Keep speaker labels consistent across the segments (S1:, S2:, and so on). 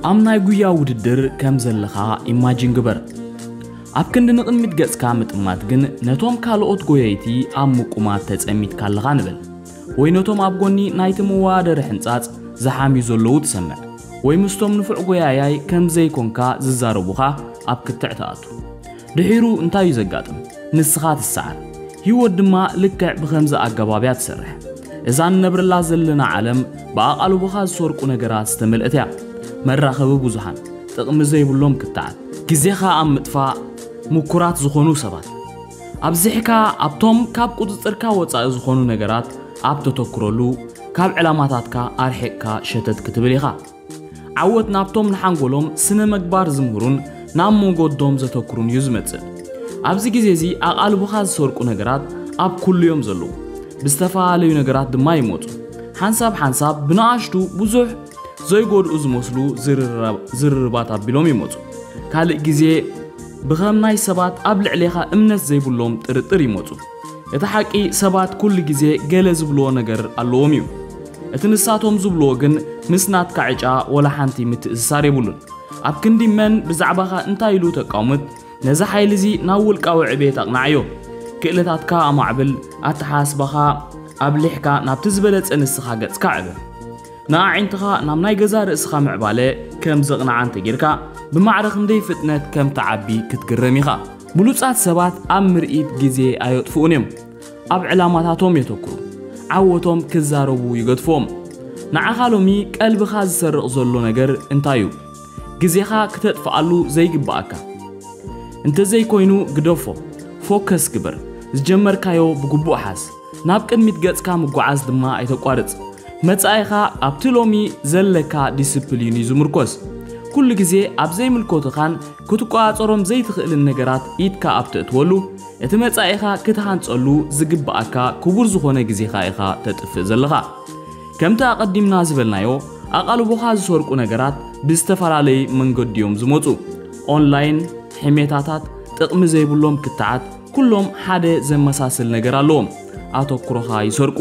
S1: ኣብ ናይ ጉያ ውድድር ከም ዘለኻ ኢማጂን ግበር። ኣብ ክንዲ ንቕድሚት ገጽካ ምጥማት ግን ነቶም ካልኦት ጎየይቲ ኣብ ምቁማት ተጸሚድካ ኣለኻ ንበል። ወይ ነቶም ኣብ ጎኒ ናይቲ መወዳደሪ ሕንጻጽ ዝሓምዩ ዘለዉ ትሰምዕ። ወይ ምስቶም ንፉዕ ጎያያይ ከም ዘይኮንካ ዝዛረቡኻ ኣብ ክትዕ ትኣቱ። ድሒሩ እንታይ እዩ ዘጋጥም? ንስኻ ትሰዓር። ህይወት ድማ ልክዕ ብኸምዚ ኣገባብ እያ ትሰርሕ። እዛ ንነብረላ ዘለና ዓለም ብኣቓልቦኻ ዝሰርቁ ነገራት ዝተመልእት እያ። መራኸቢ ብዙሃን፣ ጥቕሚ ዘይብሎም ክትዓት፣ ግዜኻ ኣብ ምጥፋእ ምኩራት ዝኾኑ ሰባት፣ ኣብዚሕካ ኣብቶም ካብ ቁጽጽርካ ወጻኢ ዝኾኑ ነገራት ኣብ ተተኩረሉ ካብ ዕላማታትካ ኣርሒቕካ ሸተት ክትብል ኢኻ። ዓወት ናብቶም ንሓንጎሎም ስነ-መግባር ዝምህሩን ናብ ሞጎዶም ዘተኩሩን እዩ ዝመጽእ። ኣብዚ ግዜ እዚ ኣቓልቦኻ ዝሰርቁ ነገራት ኣብ ኩሉ እዮም ዘለዉ። ብዝተፈላለዩ ነገራት ድማ ይመጹ። ሓንሳብ ሓንሳብ ብንኣሽቱ ብዙሕ ዘይጎድኡ ዝመስሉ ዝርርባት ኣቢሎም ይመጹ። ካልእ ግዜ ብኸም ናይ ሰባት ኣብ ልዕሌኻ እምነት ዘይብሎም ጥርጥር ይመጹ። እቲ ሓቂ ሰባት ኩሉ ግዜ ገለ ዝብልዎ ነገር ኣለዎም እዩ። እቲ ንሳቶም ዝብልዎ ግን ምስ ናትካ ዕጫ ወላ ሓንቲ ምትእስሳር የብሉን። ኣብ ክንዲ መን ብዛዕባኻ እንታይ ኢሉ ተቃውምት ነዚ ሓይሊ እዚ ናብ ውልቃዊ ዕብየት ኣቅናዓዮ። ክእለታትካ ኣማዕብል፣ ኣተሓሳስባኻ ኣብሊሕካ ናብቲ ዝበለጸ ንስኻ ገጽካ ኣዕብር። ንኣዒንትኻ ናብ ናይ ገዛእ ርእስኻ ምዕባለ ከም ዘቅንዓ እንተጌርካ ብማዕረ ክንደይ ፍጥነት ከም ትዓቢ ክትግረም ኢኻ። ብሉጻት ሰባት ኣብ ምርኢት ግዜ ኣየጥፍኡን እዮም። ኣብ ዕላማታቶም የተኩሩ። ዓወቶም ክዛረቡ ይገድፍዎም። ንዓኻ ሎሚ ቀልብኻ ዝሰርቕ ዘሎ ነገር እንታይ እዩ? ግዜኻ ክተጥፍኣሉ ዘይግብኣካ እንተዘይኮይኑ ግደፎ። ፎከስ ግበር። ዝጀመርካዮ ብግቡእ ሓዝ። ናብ ቅድሚት ገጽካ ምጉዓዝ ድማ ኣይተቋርጽ። መጻኢኻ ኣብቲ ሎሚ ዘለካ ዲስፕሊን እዩ ዝምርኮስ። ኩሉ ግዜ ኣብ ዘይምልኮትኻን ክትቆጻጸሮም ዘይትኽእልን ነገራት ኢድካ ኣብ ተእትወሉ፣ እቲ መጻኢኻ ክትሃንጸሉ ዝግብኣካ ክቡር ዝኾነ ግዜኻ ኢኻ ተጥፍእ ዘለኻ። ከምቲ ኣቐዲምና ዝበልናዮ ኣቓልቦኻ ዝሰርቁ ነገራት ብዝተፈላለይ መንገዱ እዮም ዝመጹ፣ ኦንላይን፣ ሕሜታታት፣ ጥቕሚ ዘይብሎም ክትዓት፣ ኩሎም ሓደ ዘመሳስል ነገር ኣለዎም፣ ኣተኩሮኻ ይሰርቁ።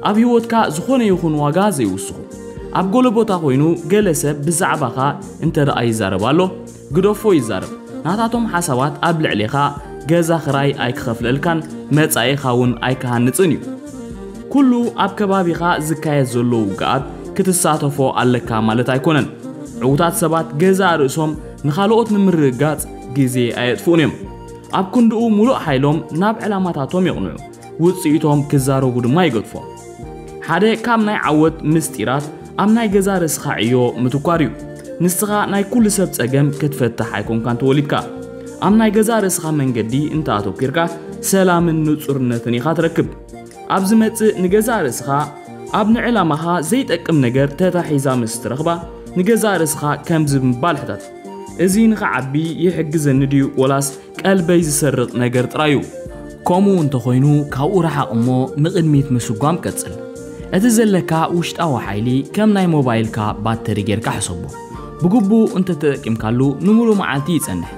S1: ኣብ ህይወትካ ዝኾነ ይኹን ዋጋ ዘይውስኹ። ኣብ ገለ ቦታ ኮይኑ ገለ ሰብ ብዛዕባኻ እንተደኣ ይዛረብ ኣሎ፣ ግደፎ ይዛረብ። ናታቶም ሓሳባት ኣብ ልዕሌኻ ገዛ ክራይ ኣይክኸፍለልካን መጻኢኻ እውን ኣይክሃንጽን እዩ። ኩሉ ኣብ ከባቢኻ ዝካየድ ዘሎ ውግኣት ክትሳተፎ ኣለካ ማለት ኣይኮነን። ዕዉታት ሰባት ገዛእ ርእሶም ንኻልኦት ንምርግጋጽ ግዜ ኣየጥፍኡን እዮም። ኣብ ክንድኡ ሙሉእ ሓይሎም ናብ ዕላማታቶም የቕንዑ፣ ውጽኢቶም ክዛረቡ ድማ ይገድፎም። ሓደ ካብ ናይ ዓወት ምስጢራት ኣብ ናይ ገዛ ርእስኻ ዕዮ ምትኳር እዩ። ንስኻ ናይ ኩሉ ሰብ ጸገም ክትፈትሕ ኣይኮንካን ተወሊድካ። ኣብ ናይ ገዛ ርእስኻ መንገዲ እንተ ኣተኲርካ ሰላምን ንጹርነትን ኢኻ ትረክብ። ኣብ ዝመጽእ ንገዛእ ርእስኻ ኣብ ንዕላማኻ ዘይጠቅም ነገር ተታሒዛ ምስ እትረኽባ ንገዛእ ርእስኻ ከምዚ ብምባል ሕተት። እዚ ንኽዓቢ ይሕግዘኒ ድዩ ወላስ ቀልበይ ዝሰርቕ ነገር ጥራይ እዩ? ከምኡ እንተ ዀይኑ፣ ካብኡ ረሓቕ እሞ ንቕድሚት ምስጓም ቀጽል። እቲ ዘለካ ውሽጣዊ ሓይሊ ከም ናይ ሞባይልካ ባተሪ ጌርካ ሕሰቦ። ብግቡእ እንተ ተጠቂምካሉ ንምሉእ መዓልቲ ይጸንሕ።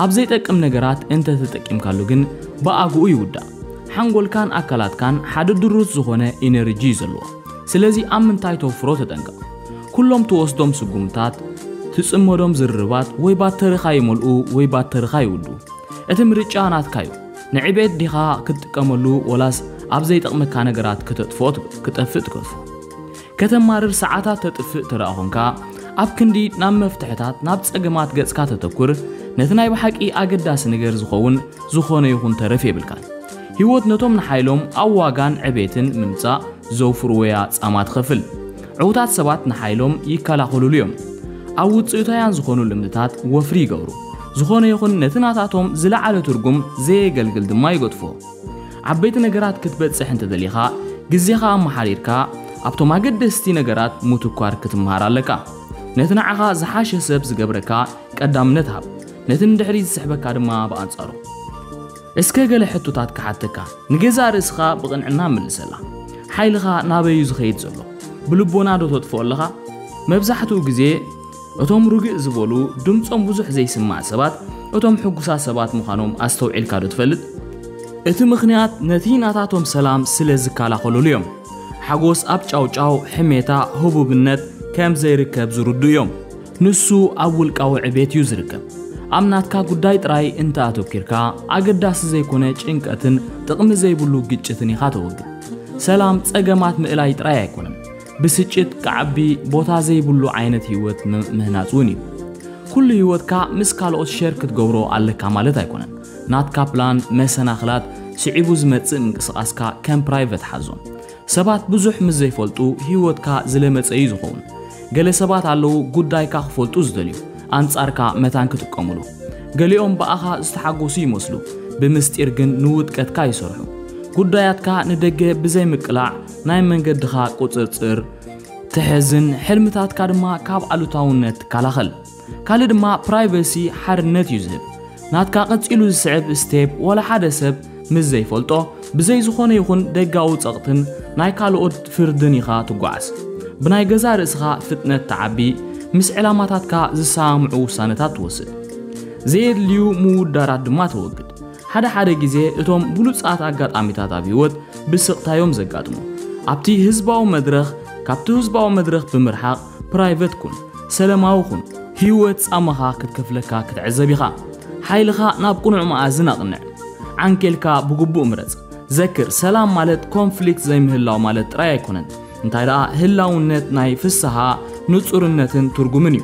S1: ኣብ ዘይጠቅም ነገራት እንተ ተጠቂምካሉ ግን ብኣግኡ ይውዳእ። ሓንጎልካን ኣካላትካን ሓደ ድሩት ዝዀነ ኢነርጂ እዩ ዘለዎ። ስለዚ ኣብ ምንታይ ተውፍሮ ተጠንቀቕ። ኩሎም ትወስዶም ስጉምታት፣ ትጽመዶም ዝርርባት ወይ ባተሪኻ ይመልኡ ወይ ባተሪኻ ይውዱ። እቲ ምርጫ ናትካ'ዩ። ንዕቤት ዲኻ ክትጥቀመሉ ወላስ ኣብ ዘይጠቕመካ ነገራት ከተጥፍኦ ክጠፍእ ትገድፎ? ከተማርር ሰዓታት ተጥፍእ ተደኣ ኮንካ፣ ኣብ ክንዲ ናብ መፍትሕታት ናብ ጸገማት ገጽካ ተተኩር፣ ነቲ ናይ ብሓቂ ኣገዳሲ ነገር ዝኸውን ዝኾነ ይኹን ተረፍ የብልካን። ህይወት ነቶም ንሓይሎም ኣብ ዋጋን ዕቤትን ምምጻእ ዘውፍርዎ'ያ ጻማ ትኸፍል። ዕውታት ሰባት ንሓይሎም ይከላኸሉሉ እዮም። ኣብ ውጽኢታውያን ዝኾኑ ልምድታት ወፍሪ ይገብሩ። ዝኾነ ይኹን ነቲ ናታቶም ዝለዓለ ትርጉም ዘየገልግል ድማ ይገድፎ። ዓበይቲ ነገራት ክትበጽሕ እንተደሊኻ፣ ግዜኻ ኣመሓሪርካ ኣብቶም ኣገደስቲ ነገራት ምትኳር ክትመሃር ኣለካ። ነቲ ንዓኻ ዝሓሸ ሰብ ዝገብረካ ቀዳምነት ሃብ፣ ነቲ ንድሕሪት ዝስሕበካ ድማ ብኣንጻሩ። እስከ ገለ ሕቶታት ክሓተካ፣ ንገዛእ ርእስኻ ብቕንዕና መልሰላ። ሓይልኻ ናበይ እዩ ዝኸይድ ዘሎ? ብልቦና ዶ ተጥፍኦ ኣለኻ? መብዛሕትኡ ግዜ እቶም ርግእ ዝበሉ ድምጾም ብዙሕ ዘይስማዕ ሰባት እቶም ሕጉሳት ሰባት ምዃኖም ኣስተውዒልካ ዶ ትፈልጥ? እቲ ምኽንያት ነቲ ናታቶም ሰላም ስለ ዝከላኸሉሉ እዮም። ሓጎስ ኣብ ጫውጫው፣ ሕሜታ፣ ህቡብነት፣ ከም ዘይርከብ ዝርድኡ እዮም። ንሱ ኣብ ውልቃዊ ዕቤት እዩ ዝርከብ። ኣብ ናትካ ጉዳይ ጥራይ እንተ ኣተኪርካ፣ ኣገዳሲ ዘይኮነ ጭንቀትን ጥቕሚ ዘይብሉ ግጭትን ኢኻ ተወግድ። ሰላም ጸገማት ምእላይ ጥራይ ኣይኮነን፣ ብስጭት ክዓቢ ቦታ ዘይብሉ ዓይነት ህይወት ምህናጽ እውን እዩ። ኩሉ ህይወትካ ምስ ካልኦት ሸር ክትገብሮ ኣለካ ማለት ኣይኮነን። ናትካ ፕላን፣ መሰናኽላት፣ ስዒቡ ዝመጽእ ምንቅስቓስካ ከም ፕራይቨት ሓዞ። ሰባት ብዙሕ ምስ ዘይፈልጡ ህይወትካ ዝለመጸ እዩ ዝኸውን። ገለ ሰባት ኣለዉ ጉዳይካ ክፈልጡ ዝደልዩ፣ ኣንጻርካ መታን ክጥቀሙሉ። ገሊኦም ብኣኻ ዝተሓጎሱ ይመስሉ፣ ብምስጢር ግን ንውድቀትካ ይሰርሑ። ጉዳያትካ ንደገ ብዘይ ምቅላዕ ናይ መንገድኻ ቁጽርጽር ትሕዝን ሕልምታትካ ድማ ካብ ኣሉታውነት ትከላኸል። ካልእ ድማ ፕራይቨሲ ሓርነት እዩ ዝህብ። ናትካ ቀጺሉ ዝስዕብ ስቴፕ ወላ ሓደ ሰብ ምስ ዘይፈልጦ ብዘይ ዝኾነ ይኹን ደጋዊ ጸቕትን ናይ ካልኦት ፍርድን ኢኻ ትጓዓዝ። ብናይ ገዛእ ርእስኻ ፍጥነት ትዓቢ፣ ምስ ዕላማታትካ ዝሰማምዑ ውሳነታት ትወስድ። ዘየድልዩ ምውዳራት ድማ ተወግድ። ሓደ ሓደ ግዜ እቶም ብሉጻት ኣጋጣሚታት ኣብ ህይወት ብስቕታ እዮም ዘጋጥሙ። ኣብቲ ህዝባዊ መድረኽ ካብቲ ህዝባዊ መድረኽ ብምርሓቕ ፕራይቨት ኩን፣ ሰለማዊ ኩን፣ ህይወት ጻማኻ ክትከፍለካ ክትዕዘብ ኢኻ። ሓይልኻ ናብ ቅኑዕ መኣዝን ኣቕንዕ። ዓንኬልካ ብግቡእ ምረጽ። ዘክር፣ ሰላም ማለት ኮንፍሊክት ዘይምህላው ማለት ጥራይ ኣይኮነን፣ እንታይ ደኣ ህላውነት ናይ ፍስሃ፣ ንጹርነትን ትርጉምን እዩ።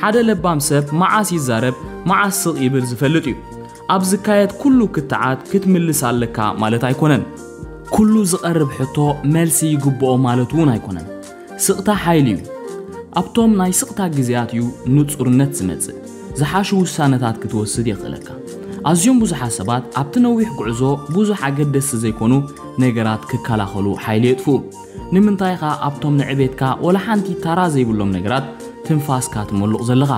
S1: ሓደ ለባም ሰብ መዓስ ይዛረብ መዓስ ስቕ ይብል ዝፈልጥ እዩ። ኣብ ዝካየድ ኩሉ ክትዓት ክትምልስ ኣለካ ማለት ኣይኮነን። ኩሉ ዝቐርብ ሕቶ መልሲ ይግብኦ ማለት'ውን ኣይኮነን። ስቕታ ሓይሊ እዩ። ኣብቶም ናይ ስቕታ ግዜያት እዩ ንጹርነት ዝመጽእ። ዝሓሹ ውሳነታት ክትወስድ የኽእለካ። ኣዝዮም ብዙሓት ሰባት ኣብቲ ነዊሕ ጉዕዞ ብዙሕ ኣገደስቲ ዘይኮኑ ነገራት ክከላኸሉ ሓይሊ የጥፍኡ። ንምንታይ ኢኻ ኣብቶም ንዕቤትካ ወላ ሓንቲ ታራ ዘይብሎም ነገራት ትንፋስካ ትመሉቕ ዘለኻ?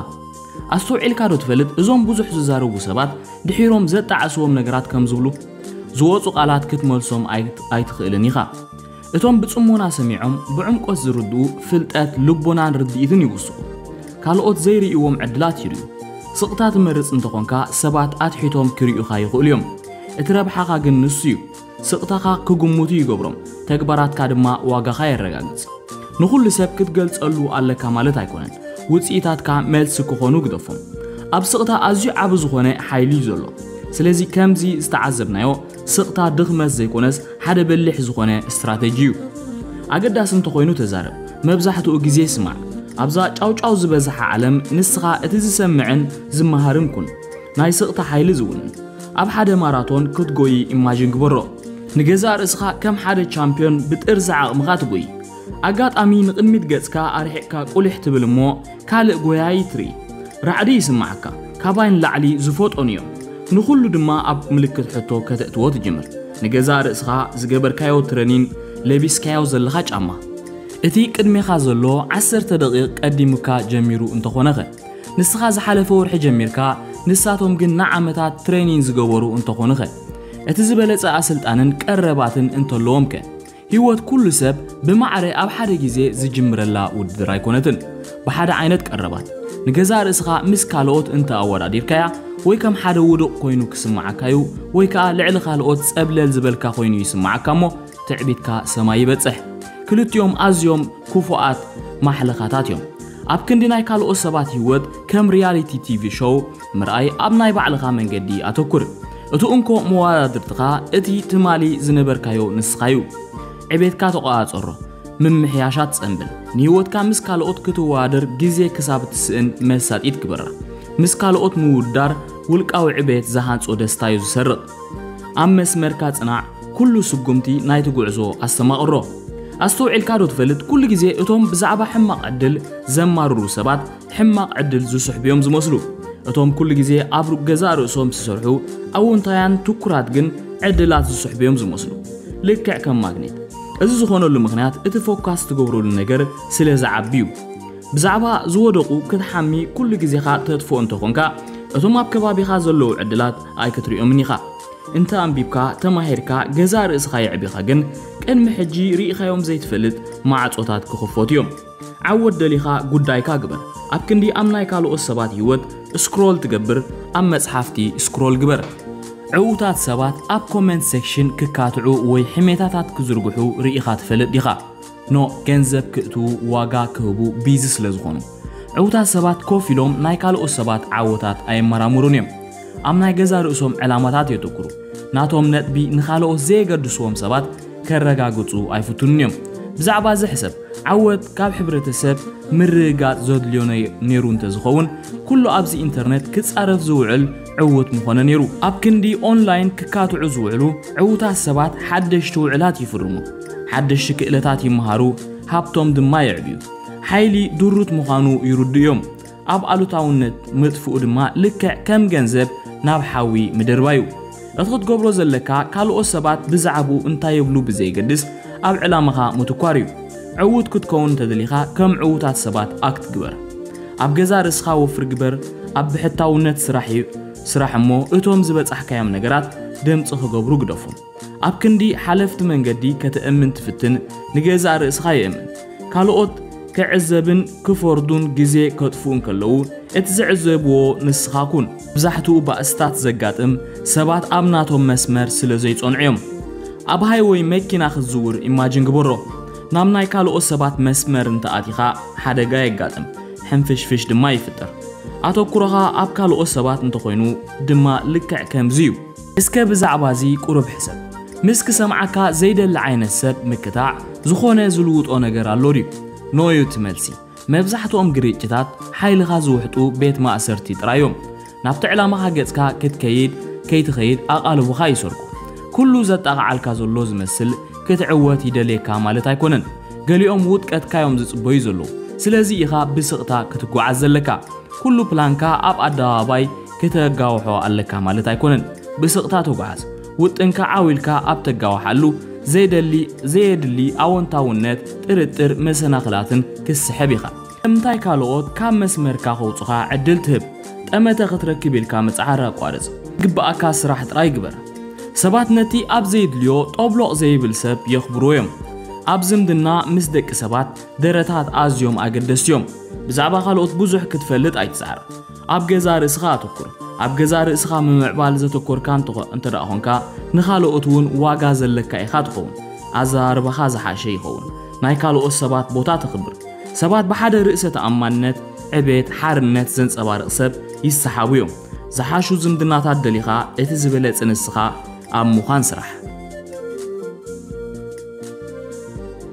S1: ኣስተውዒልካዶ ትፈልጥ እዞም ብዙሕ ዝዛረቡ ሰባት ድሒሮም ዘጣዕስዎም ነገራት ከም ዝብሉ? ዝወጹ ቃላት ክትመልሶም ኣይትኽእልን ኢኻ። እቶም ብጽሞና ሰሚዖም ብዕምቈት ዝርድኡ ፍልጠት፣ ልቦናን ርድኢትን ይውስኹ። ካልኦት ዘይርእይዎም ዕድላት ይርእዩ። ስቕታ ትመርጽ እንተ ዀንካ፣ ሰባት ኣትሒቶም ኪርእዩኻ ይኽእሉ እዮም። እቲ ረብሓኻ ግን ንሱ እዩ። ስቕታኻ ኪግምቱ ይገብሮም፣ ተግባራትካ ድማ ዋጋኻ የረጋግጽ። ንዅሉ ሰብ ክትገልጸሉ ኣለካ ማለት ኣይኰነን። ውጽኢታትካ መልሲ ኪዀኑ ግደፎም። ኣብ ስቕታ ኣዝዩ ዓቢ ዝዀነ ሓይሊ እዩ ዘሎ። ስለዚ፣ ከምዚ ዝተዓዘብናዮ፣ ስቕታ ድኽመት ዘይኮነስ ሓደ በሊሕ ዝኾነ ስትራተጂ እዩ። ኣገዳሲ እንተኾይኑ ተዛረብ፣ መብዛሕትኡ ግዜ ስማዕ። ኣብዛ ጫውጫው ዝበዝሓ ዓለም ንስኻ እቲ ዝሰምዕን ዝመሃርን ኩን። ናይ ስቕታ ሓይሊ ዝውንን ኣብ ሓደ ማራቶን ክትጎዪ ኢማጂን ግበሮ። ንገዛእ ርእስኻ ከም ሓደ ቻምፕዮን ብጥርዚ ዓቕምኻ ትጎዪ። ኣጋጣሚ ንቕድሚት ገጽካ ኣርሒቕካ ቁሊሕ ትብል እሞ ካልእ ጎያዪ ትርኢ። ራዕዲ ይስምዓካ። ካባይ ንላዕሊ ዝፎጦኑ እዮም። ንኹሉ ድማ ኣብ ምልክት ሕቶ ከተእትዎ ትጅምር። ንገዛእ ርእስኻ ዝገበርካዮ ትረኒን ለቢስካዮ ዘለኻ ጫማ። እቲ ቅድሜኻ ዘሎ ዓሰርተ ደቒቕ ቀዲሙካ ጀሚሩ እንተኾነኸ? ንስኻ ዝሓለፈ ወርሒ ጀሚርካ ንሳቶም ግን ንዓመታት ትረኒን ዝገበሩ እንተኾኑኸ? እቲ ዝበለጸ ኣስልጣንን ቀረባትን እንተለዎምከ? ህይወት ኩሉ ሰብ ብማዕረ ኣብ ሓደ ግዜ ዝጅምረላ ውድድር ኣይኮነትን። ብሓደ ዓይነት ቀረባት፣ ንገዛእ ርእስኻ ምስ ካልኦት እንተ ኣወዳዲርካያ፣ ወይ ከም ሓደ ውዱቕ ኮይኑ ክስምዓካዩ፣ ወይ ከኣ ልዕሊ ካልኦት ጸብለል ዝበልካ ኮይኑ ይስምዓካሞ ትዕቢትካ ሰማይ ይበጽሕ። ክልቲኦም ኣዝዮም ክፉኣት ማሕለኻታትዮም። ኣብ ክንዲ ናይ ካልኦት ሰባት ህይወት ከም ሪያሊቲ ቲቪ ሾው፣ ምርኣይ ኣብ ናይ ባዕልኻ መንገዲ ኣተኩር። እቲ እንኮ መወዳድርትኻ እቲ ትማሊ ዝነበርካዮ ንስኻዩ። ዕቤትካ ተቆጻጸሮ። ምምሕያሻት ጸንብል። ንህይወትካ ምስ ካልኦት ክትወዳደር ግዜ ክሳብ እትስእን መሳጢት ግበራ። ምስ ካልኦት ምውድዳር ውልቃዊ ዕቤት ዝሃንጾ ደስታዩ ዝሰርቕ። ኣብ መስመርካ ጽናዕ፣ ኩሉ ስጉምቲ ናይቲ ጉዕዞ ኣስተማቕሮ። ኣስተውዒልካዶ ትፈልጥ ኩሉ ግዜ እቶም ብዛዕባ ሕማቕ ዕድል ዘማርሩ ሰባት ሕማቕ ዕድል ዝስሕቡ'ዮም ዝመስሉ። እቶም ኩሉ ግዜ ኣብ ሩብ ገዛእ ርእሶም ዝሰርሑ ኣዎንታውያን ትኩራት ግን ዕድላት ዝስሕቡ'ዮም ዝመስሉ። ልክዕ ከም ማግኔት። እዚ ዝኾነሉ ምኽንያት እቲ ፎካስ ትገብረሉ ነገር ስለ ዝዓቢ'ዩ። ብዛዕባ ዝወደቑ ክትሓሚ ኩሉ ግዜኻ ተጥፍኦ እንተኾንካ እቶም ኣብ ከባቢኻ ዘለዉ ዕድላት ኣይክትሪኦምን ኢኻ። እንተ ኣንቢብካ፣ ተማሂርካ፣ ገዛእ ርእስኻ የዕቢኻ ግን ቅድሚ ሕጂ ርኢኻዮም ዘይትፈልጥ ማዕጾታት ክኽፈቱ'ዮም። ዓወት ደሊኻ ጉዳይካ ግበር ኣብ ክንዲ ኣብ ናይ ካልኦት ሰባት ሂወት እስክሮል ትገብር ኣብ መጽሓፍቲ እስክሮል ግበር። ዕውታት ሰባት ኣብ ኮመንት ሴክሽን ክካትዑ ወይ ሕሜታታት ክዝርግሑ ርኢኻ ትፈልጥ ዲኻ? ን ገንዘብ ክእትዉ ዋጋ ክህቡ ቢዚ ስለ ዝኾኑ። ዕውታት ሰባት ኮፍ ኢሎም ናይ ካልኦት ሰባት ዓወታት ኣየመራምሩን እዮም። ኣብ ናይ ገዛ ርእሶም ዕላማታት የትኩሩ። ናቶም ነጥቢ ንኻልኦት ዘየገድስዎም ሰባት ከረጋግጹ ኣይፍትኑን እዮም። ብዛዕባ እዚ ሕሰብ፣ ዓወት ካብ ሕብረተሰብ ምርግጋጽ ዘድልዮ ነይሩ እንተዝኸውን፣ ኩሉ ኣብዚ ኢንተርነት ክጻረፍ ዝውዕል ዕዉት ምኾነ ነይሩ። ኣብ ክንዲ ኦንላይን ክካትዑ ዝውዕሉ ዕዉታት ሰባት ሓደሽቲ ውዕላት ይፍርሙ፣ ሓደሽቲ ክእለታት ይመሃሩ፣ ሃብቶም ድማ የዕብዩ። ሓይሊ ድሩት ምዃኑ ይርድኡ እዮም። ኣብ ኣሉታውነት ምጥፍኡ ድማ ልክዕ ከም ገንዘብ ናብ ሓዊ ምድርባይ እዩ። እቲ ክትገብሮ ዘለካ ካልኦት ሰባት ብዛዕብኡ እንታይ ይብሉ ብዘየገድስ ኣብ ዕላማኻ ምትኳር እዩ። ዕዉት ክትከውን እንተደሊኻ ከም ዕዉታት ሰባት ኣክት ግበር። ኣብ ገዛእ ርእስኻ ወፍሪ ግበር፣ ኣብ ብሕታውነት ስራሕ ስራሕ እሞ እቶም ዝበጻሕካዮም ነገራት ድምጺ ክገብሩ ግደፎም። ኣብ ክንዲ ሓለፍቲ መንገዲ ከተእምን ትፍትን፣ ንገዛእ ርእስኻ የእምን። ካልኦት ክዕዘብን ክፈርዱን ግዜ ከጥፍኡን ከለዉ፣ እቲ ዝዕዘብዎ ንስኻ ኩን። መብዛሕትኡ ባእስታት ዘጋጥም፣ ሰባት ኣብ ናቶም መስመር ስለ ዘይጸንዑ እዮም። ኣብ ሃይወይ መኪና ክትዝውር ኢማጂን ግበሮ። ናብ ናይ ካልኦት ሰባት መስመር እንተ ኣቲኻ፣ ሓደጋ የጋጥም፣ ሕንፍሽፍሽ ድማ ይፍጠር። ኣተኩሮኻ ኣብ ካልኦት ሰባት እንተ ኾይኑ ድማ ልክዕ ከምዚ እዩ። እስከ ብዛዕባ እዚ ቁሩብ ሕሰብ። ምስ ክሰምዓካ ዘይደሊ ዓይነት ሰብ ምክታዕ ዝኾነ ዝልውጦ ነገር ኣሎ ድዩ? ኖ'ዩ እቲ መልሲ። መብዛሕትኦም ግርጭታት ሓይልኻ ዝውሕጡ ቤት ማእሰርቲ ጥራይ እዮም። ናብቲ ዕላማኻ ገጽካ ክትከይድ ከይትኸይድ ኣቓልቦኻ ይሰርቁ። ኩሉ ዘጣቕዓልካ ዘሎ ዝመስል ክትዕወት ይደልየካ ማለት ኣይኮነን። ገሊኦም ውድቀትካ እዮም ዝጽበዩ ዘለዉ። ስለዚ ኢኻ ብስቕታ ክትጓዓዝ ዘለካ። ኩሉ ፕላንካ ኣብ ኣደባባይ ክተጋውሖ ኣለካ ማለት ኣይኮነን። ብስቕታ ተጓዓዝ። ውጥንካ ዓው ኢልካ ኣብ ተጋውሓሉ፣ ዘይደሊ ዘየድሊ ኣወንታውነት፣ ጥርጥር፣ መሰናኽላትን ክትስሕብ ኢኻ። ንምንታይ ካልኦት ካብ መስመርካ ከውጹኻ ዕድል ትህብ? ጠመተ ክትረክብ ኢልካ ምጽዓር ኣቋርጽ። ዝግብኣካ ስራሕ ጥራይ ግበር። ሰባት ነቲ ኣብ ዘይድልዮ ጦብሎቕ ዘይብል ሰብ የኽብርዎ እዮም። ኣብ ዝምድና ምስ ደቂ ሰባት ደረታት ኣዝዮም ኣገደስቲ እዮም። ብዛዕባ ካልኦት ብዙሕ ክትፈልጥ ኣይትጽዓር። ኣብ ገዛእ ርእስኻ ኣተኩር። ኣብ ገዛእ ርእስኻ ምምዕባል ዘተኮርካ እንተ እንተ ደኣ ኾንካ፣ ንኻልኦት እውን ዋጋ ዘለካ ኢኻ ትኸውን። ኣዘራርባኻ ዝሓሸ ይኸውን። ናይ ካልኦት ሰባት ቦታ ተኽብር። ሰባት ብሓደ ርእሰ ተኣማንነት፣ ዕቤት፣ ሓርነት ዘንጸባርቕ ሰብ ይሰሓቡ እዮም። ዝሓሹ ዝምድናታት ደሊኻ እቲ ዝበለጸ ንስኻ ኣብ ምዃን ስራሕ።